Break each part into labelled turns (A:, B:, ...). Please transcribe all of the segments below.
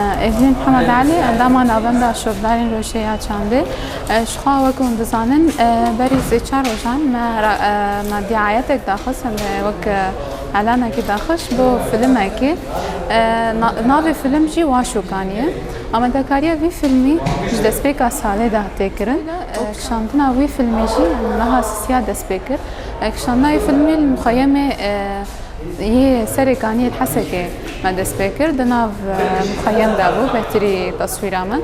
A: Êzî Mihemed Elî, endama Navenda Şopdarên Rojê ya Çandê, Jixwe wek hûn dizanin berî sê çar rojan me me dîayetek daxist em ê wek elanekî daxist bo filimekî. Navê filim jî Waşûkan ye. Amadekariya vî filmî ji destpêka salê de hatiye kirin. Kişandina wî filmî jî niha sisiya dest pê kir. Kişandina wî filmî li muxeyemê yê serê kaniyê li Hesekê. Me dest pê kir di nav muxeyem de bû betirî taswîra min.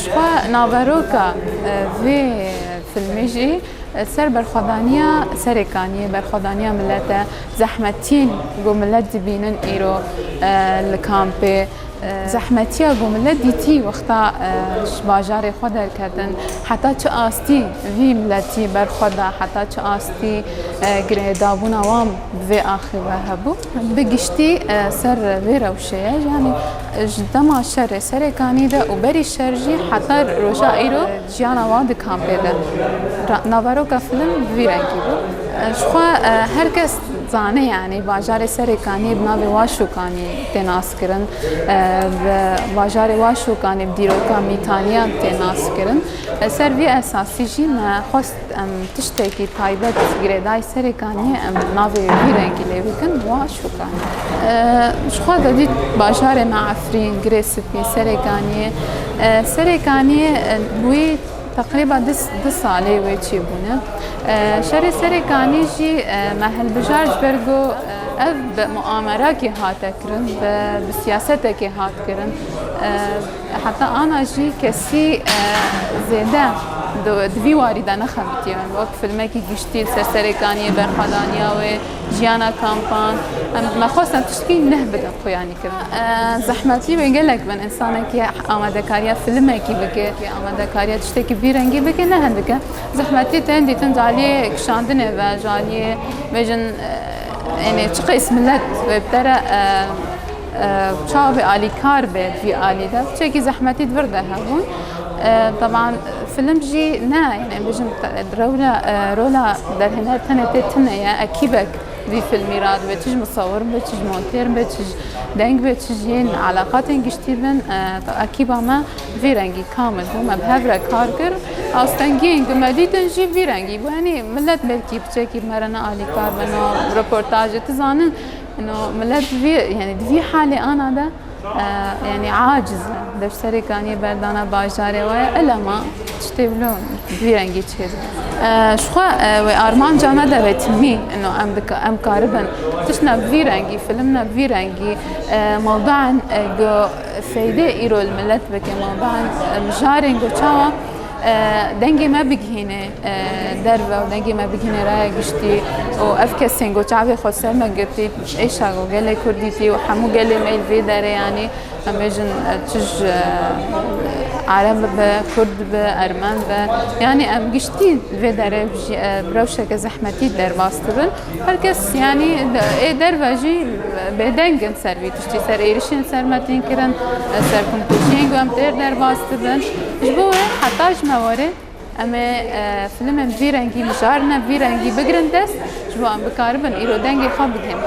A: Ji xwe naveroka vê filmê jî ser berxwedaniya serêkaniyê, berxwedaniya milete, zehmetiyên ku milet dibînin îro li kampê, zehmetiya ku milet dîtî wexta ji bajarê xwe derketin, heta çi astî vî miletî berxwe da, heta çi astî girêdabûna wan bi vê axê ve hebû. Bi giştî ser vê rewşeye yanî ji dema şerê serê kanî de û berî şer jî heta roja îro jiyana wan di kampê de naveroka film bi vî rengî bû. Ji xwe her kes dizane yanî bajarê serê kanî bi navê Waşû kanî tê naskirin. Bi bajarê Waşû kanî bi dîroka mîtaniyan tê naskirin. Li ser vî esasî jî me xwest Em tiştekî taybet girêdayî serê kaniyê em navê wî rengî lê bikin wa şûkane. Ji xwe de dît bajarê me Efrîn girê spî serê kaniyê. Serê kaniyê wî teqrîba du salê wê çî bûne. Şerê serê kanî jî me hilbijar ji ber ku ev bi muamerakê hate kirin, bi siyasetekê hat kirin. Heta ana jî kesî zêde di vî warî de nexebitiye min. Wek filmekî giştî li ser serê kaniyê berxwedaniya wê, jiyana kampan. Em me xwestin tiştkî neh bidin xuyanî kirin. Zehmetî wê gelek bin însanekî amadekariya filmekî bike, amadekariya tiştekî vî rengî bike ne hindik e. Zehmetî tên dîtin ji aliyê kişandinê ve, ji aliyê bêjin enê çi qeys milet wê bi te re Çavê alî kar be jî alî de çekî zehmetî vir de hebûn. Taban film jî ne yani bijim rewla rola derhêner tene tê tine ye ekîbek vî filmî ra dibe çij musawir be çij monter be çij deng be çij yên alaqatên giştî bin ekîba me vî rengî kamil bû me bi hev re kar kir astengiyên ku me dîtin jî vî rengî bû yanî millet belkî bi çekî me re nealîkar be na reportajê tu zanin Ino milet di vî yanî di vî halê ana de yanî aciz e. Dev serê kanî berdana bajarê we ye elema tiştê bilo di vî rengî çêz be. Ji xwe wê armanca me de vetinî ino em dika em karibin tiştna bi vî rengî filimna bi vî rengî mewdaan go feydê îro li milet bike mewdaan mijarên go çawa Dengê me bigihînê derve û dengê me bigihînê raya giştî û ev kesên ku çavê xwe ser me girtî êşa ku gelê Kurdî tî û hemû gelê me li vê derê yanî em bêjin çij Arab bibe, Kurd bibe, Ermen bibe yanî em giştî li vê derê bi rewşeke zehmetî derbas dibin. Her kes yanî ê derve jî bêdeng in ser vî tiştî, ser êrişên ser me tên kirin, ser komkûjiyên ku em têr derbas dibin. Ji bo wê heta ji me warê em ê filmên bi vî rengî mijarine, bi vî rengî bigirin dest ji bo em bikaribin îro dengê xwe bidin hemû.